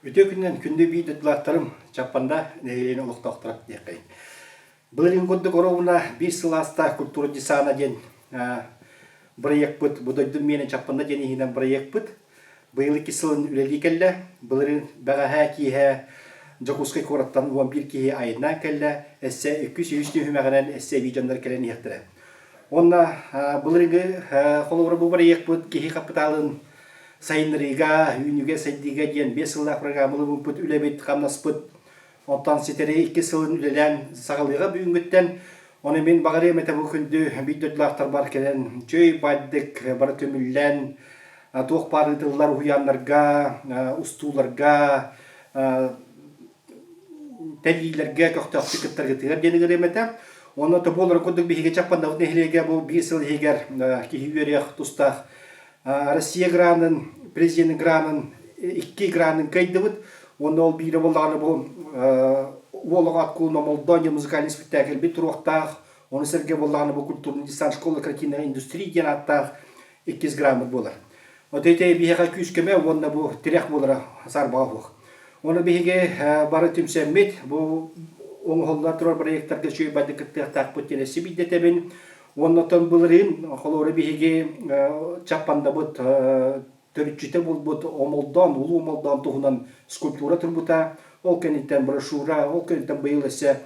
Үтүө күнүнэн күндү биир дойдулаахтарым, Чаппанда нэһилиэгин олохтоохторо диэххин. Былырыын курдук оруобуна биир сыл ааста культура десана диэн бырайыакпыт, бу дойдум миэнэ Чаппанда диэн иһинэн бырайыакпыт быйыл икки сылын үлэлии кэллэ. Былырыын бэҕэһээ киэһэ Дьокуускай куораттан уон биир киһи айаннаан кэллэ, өссө икки үс үһүс түһүмэҕинэн өссө эбии дьоннор кэлэн иһиэхтэрэ. Уонна былыргы холобура бу проектпыт киһи хапытаалын сайыннарыыга, үүнүүгэ, сайдыыга диэн биэс сыллаах программалыыбыппыт, үлэбит, хамнаспыт оттон ситэри иккис сылын үлэлээн саҕалыаҕа бүгүҥҥүттэн. Ону мин баҕарыам этэ бу күндү биир дойдулаахтарбар кэлэн үчүгэй баайдык бары көмүллэн туох баар ыытыллар уһуйааннарга, устууларга тэлиилэргэ көхтөөхтүк кыттаргытыгар диэн ыҥырыам этэ. Уонна то буолара курдук биһиги Чаппандабыт нэһилиэгэ бу биир сыл иһигэр киһи үөрүйэх тустаах Россия гранын, президент гранын икки гранын кыайдыбыт. Уонна ол биирэ буоллаҕына бу уол оҕо аккуул Мамолдония музыкальнай спектакль бит туруохтаах. Ону сэргэ буоллаҕына бу культурный дистант школа картиннара индустрии диэн ааттаах иккис грааммыт буолар. От эти биһиэхэ күүскэмэ уонна бу тирэх буолара саарбаҕа уһуох. Ону биһиги бары түмсэммит бу оҥоһулла турар проектарга сүөйбайдык кыттыахтаахпыт диэн эсси бийдетэбин. Уонна оттон былырыын холуора биһиги Чаппандабыт төрүччүтэ булбут омолдоон, улуу омолдоон туһунан скульптура турбута. Ол кэнниттэн брошюра, ол кэнниттэн быйыл эссе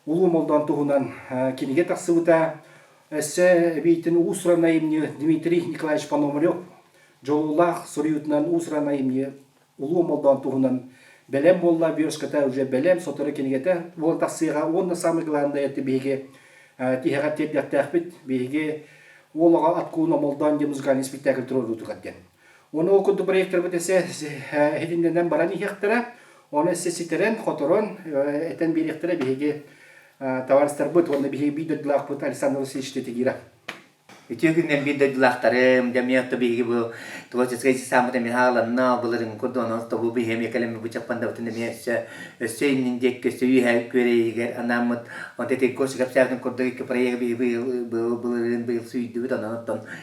Улуу Молдоон туһунан кинигэ тахсыбыта. Өссө эбиитин уусуранай имньи Дмитрий Николаевич Пономарев дьолуулаах суруйуутунан уусуранай имньи Улуу Молдоон туһунан Бэлэм буолла вершката уже бэлэм сотору кинигэтэ буола тахсыаҕа уонна самый главное это биһиги тиһэҕэ тиэрдиэхтээхпит биһиги уол аҕа от кууна молдоон диэн музыкальный спектакль туруоруутугар диэн Ону курдук проектарбыт эсэ иһитиннэнэн баран иһиэхтэрэ. Ону эссе ситэрэн, хоторон, этэн биэриэхтэрэ биһиги табаарыстарбыт уонна биһиги биир дойдулаахпыт Александр Васильевич Тетигира. Үтүө күннэр биир дойдулаахтарым, дэмиэ отто биһиги бу творческай ансамбыт эмиэ хааланна, былырыҥҥы курдук онон тобу биһиги эмиэ кэлэммит бычаппандабытын эмиэ өссө өссө иннин диэки өссө үөһээ күөрэйигэр анаммыт онон тэтей коши кэпсээтин курдук икки проекты биһиги быйыл былырыын быйыл сүүйдүбүт онон оттон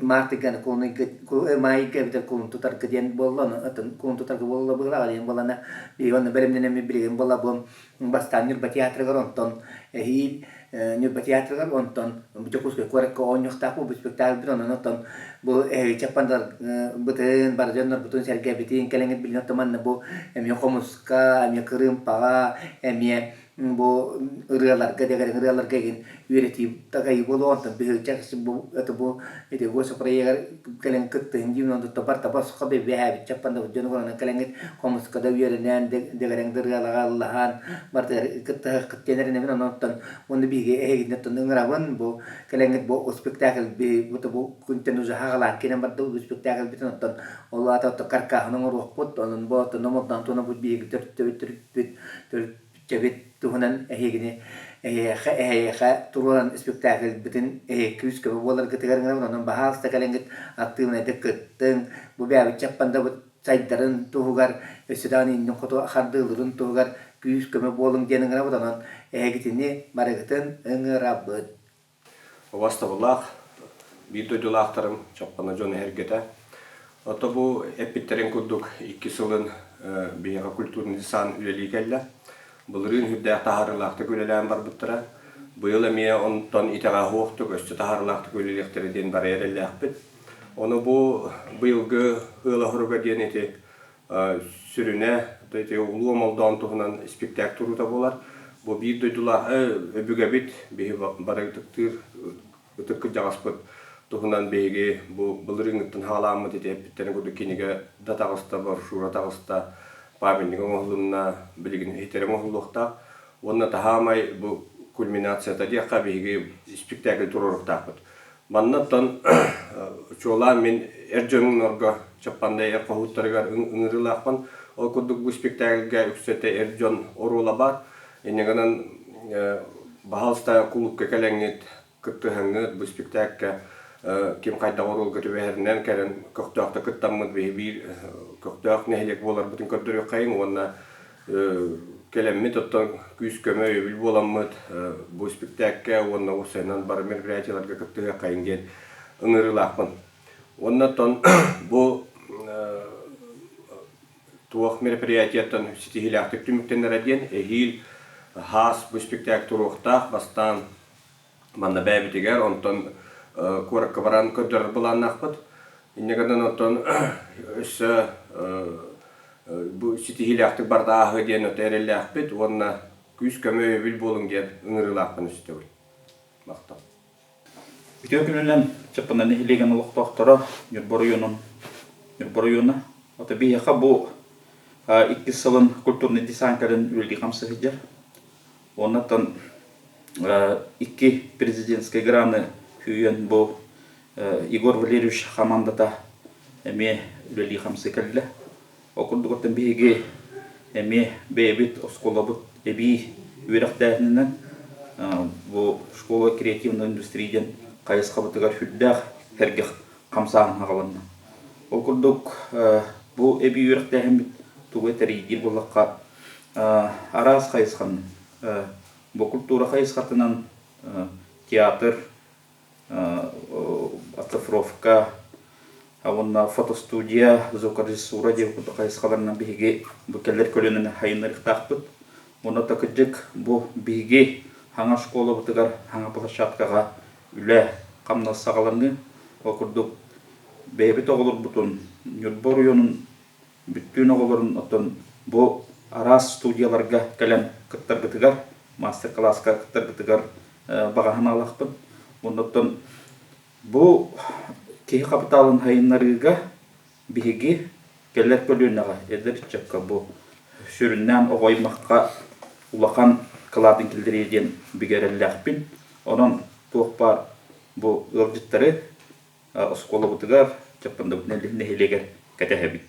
Мартык куонуй маайга эбитэ куун тутарга диэн буоллану атын куун тутарга буолла быылаҕа диэн буолана Иван бэлэмнэнэммит билигин буолабым бастаан Ньурба театрыгар онтон эһиил Ньурба театрыгар онтон Дьокуускай куоракка оонньуохтаах бу спектаклбит онон оттон бу эһиги бытын бары дьоннорбутун сэргэбитин кэлэҥит билин оттон манна бу эмиэ хомуска эмиэ кырыымпаҕа эмиэ бу ырыаларга дэгэрэҥ ырыаларга игин үөрэтии тагайы буолуо онтон биһирдьэ бу это бу эти госпроегер кэлэн кыттыһын диин онту табар таба сохо бэбээбит чаппан да дьону көрөнөн кэлэҥит хомуска да үөрэнэн дэгэрэҥ да ырыалаҕа ыллаһан бардыгар кыттыһа кыттыанэринэбин онтон онну биһиги эһигинне оттон ыҥырабын бу кэлэҥит бу спектакль би бута бу күнтэн ужаха халаар киинен барда спектакль битин оттон ол аата оттон каркааһын оҥоруохпут онон бу оттон номотнан туна бут биһиги төртөбүттүр төрүччэбит туһунан эһиигини эһиэхэ эһиэхэ туруоран спектакльбытын эһиэхэ күүс-көмө буоларгытыгар гынан онон баһаалыста кэлэҥҥит актыыбынайдык кыттыҥ бу бэйэбит чаппандабыт сайдарын туһугар өссө даҕаны иннин хоту хардыылырын туһугар күүс-көмө буолуҥ диэн ыҥырабыт онон эһигитини барыгытын ыҥырабыт Убастабыллаах биир дойдулаахтарым Чаппана дьон эһэргэтэ. Ото бу эппиттэрин курдук иккис сылын биһиэхэ культурный сан үлэлии кэллэ. Былырыын сүрдээх таһаарыылаахтык үлэлээн барбыттара. Быйыл эмиэ онтон итэҕэһуохтук, өссө таһаарыылаахтык үлэлиэхтэрэ диэн бары эрэллээхпит. Ону бу быйылгы ыал оһоруга диэн ити сүрүнэ Улуу Олдоон туһунан испиктээк туруута буолар. Бу биир дойдулааҕы өбүгэбит, биһи бары ытыктыыр ытык кырдьаҕаспыт туһунан биһиги бу былырыыҥҥыттан саҕаламмыт ити эппиттэрин курдук кинигэ да таҕыста, брошюра таҕыста, памятнига оҥоһулунна, билигин иһитэрэ оҥоһуллуохтаах. Уонна таһаамай бу кульминацията диэххэ биһиги испиктээкили туруоруохтаахпыт. Маннаттан, чуолаан мин эр дьоннорго Чаппаннай эр хоһууттарыгар ыҥырыылаахпын. Ол курдук бу испиктээкилгэ үксэтэ эр дьон оруола баар. Инньэ гынан, баһаалыстаан кулуупка кэлэҥҥит, кыттыһаҥҥыт бу испиктээккэ ким хайдах оруолга түбэһэринэн кэлэн көхтөөхтүк кыттаммыт биһи биир көхтөөх нэһилиэк буоларбытын көрдөрүөххэйиҥ уонна Кэлэммит оттон күүс-көмө өйөбүл буоламмыт бу испиктээккэ уонна уопсайынан бары мероприятиеларга кыттыһыаххайыҥ диэн ыҥырыылаахпын. Уонна оттон бу туох мероприятияттан ситиһиилээхтик түмүктэнэрэ диэн эһиил хаас бу испиктээк туруохтаах бастаан Манна бэйэбитигэр, онтон куоракка баран көрдөрөр былааннаахпыт. Инньэ гынан оттон өссө бу ситиһиилээхтик барда ааһыа диэн өтө эрэллээхпит уонна күүс-көмө өйөбүл буолуҥ диэн ыҥырыылаахпын истэбин. Махтал. Үтүө күнүнэн Чаппана нэһилиэгин олохтоохторо Ньурба оройуонун Ньурба оройуона ото биһиэхэ бу иккис сылын культурный десант кэлин үлэлии-хамсыы сылдьар Оннуттан икки президентскэй граны күүйэн бу Егор Валерьевич хамаандата эмиэ үлэлии-хамсыы кэллэ. Ол курдук оттон биһиги эмиэ бэйэбит оскуолабыт эбии үөрэхтээһининэн бу школа креативной индустрии диэн хайысхабытыгар сүрдээх сэргэх хамсааһын аҕаланна. Ол курдук бу эбии үөрэхтээһиммит тугу тэрийдиир буоллахха Араас хайысхан, бу культура хайысхатынан театр, оцифровка уонна фотостудия, звукорежиссура диэн курдук хайысхаларынан биһиги бу кэлэр көлүөнэни сайыннарыахтаахпыт. Уонна такырдьык бу биһиги хаҥа школабытыгар, хаҥа площадкаҕа үлэ хамнас саҕаланыы. Ол курдук бэйэбит оҕолорбутун Ньурба оройуонун бүттүүн оҕолорун оттон бу араас студияларга кэлэн кыттаргытыгар, маастер-кылааска кыттаргытыгар баҕаһын аалахпын. Оннуттан бу киһи хапытаалын сайыннарыыга биһиги кэлэр көлүөнэҕэ эдэр ыччакка бу сүрүннээн оҕо аймахха улахан кылаатын киллэриэ диэн бигэрэллээхпин. Онон туох баар бу ыалдьыттары оскуолабытыгар Чаппандабыдна үлэһит нэһилиэгэр кэтэһэбит